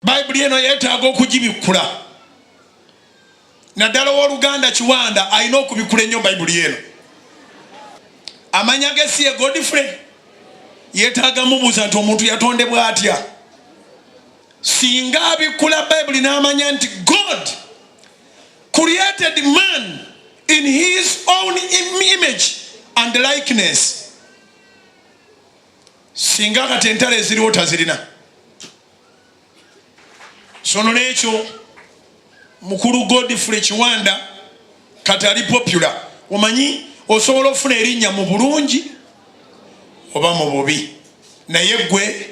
bayibuli eno yeetaaga okugibikkula naddala ow'oluganda kiwanda alina okubikkula ennyo bayibuli eno amanya ge si ye godfrey yeetaaga mubuuza nti omuntu yatondebwa atya singa abikkula bayibuli n'amanya nti god created man in his own image and likeness singa kati entalo eziriwo tazirina so nolwekyo mukulu godfrey kiwanda kati ali popular omanyi osobola okufuna erinnya mu bulungi oba mu bubi naye gwe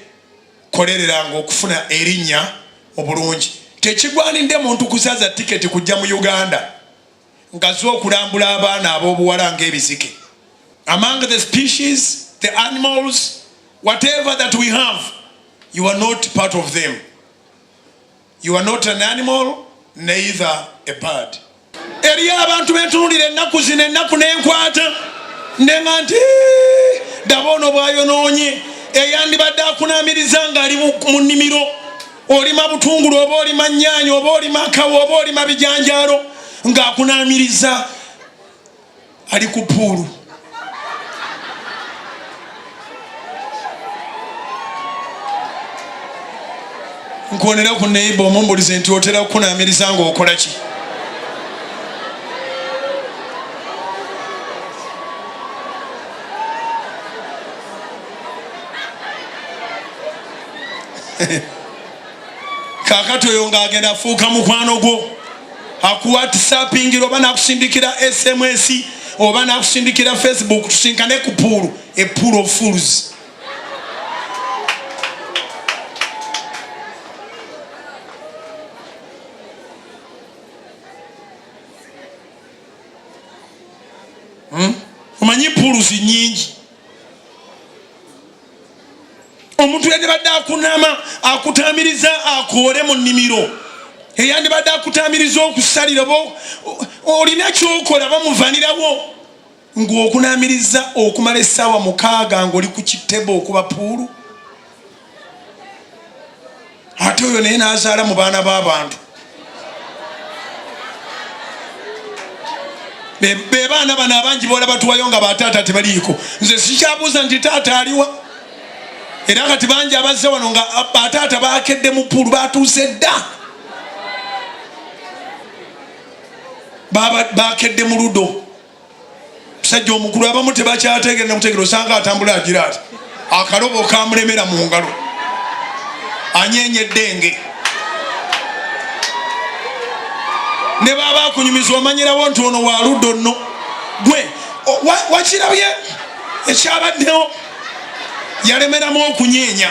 kolereranga okufuna erinnya mu bulungi tekigwanidde muntu kusaza tiketi kujja mu uganda ngazi okulambula abaana ab'obuwala ng'ebizike among the species the animals whatever that we have you are not part of them you are not an animal neither a bird eriyo abantu bentunulira ennaku zino ennaku nenkwata ndenga nti daba ono bwayonoonye eyandibadde akunamiriza ng'ali mu nnimiro olima butungulu oba olima nyaanya oba olima kawa oba olima bijanjaalo ng'akunaamiriza ali ku puulu nkuonera ku neiba omumbulize nti otera kukunaamiriza ng'okola ki kakati oyo nga agenda afuuka mukwano gwo akuwatisapingira oba nakusindikira sms oba nakusindikira facebook tusinkane ku puulu epuulu of fools hmm? omanyi puulu zinyingi omuntu yandibadde akunama akutamiriza akoole mu nnimiro eyandibadde akutamiriza okusalira oba olina kyokola bamuvanirawo ng'okunamiriza okumala essaawa mukaaga ng'oli ku kitebe okuba puulu ate oyo naye nazaala mu baana b'abantu be baana bano abangi bola batuwayo nga bataata tebaliiko nze sikyabuuza nti taata aliwa era kati bangi abazze wano nga bataata bakedde mu puulu batuuse dda bakedde mu ludo musajja omukulu abamu tebakyategeera nakutegeera osanga atambula agira ati akalobo kamulemera mu ngalo anyenya eddenge ne baba akunyumiza omanyirawo nti ono waludde onno gwe wakirabye ekyabaddewo yalemeramu okunyenya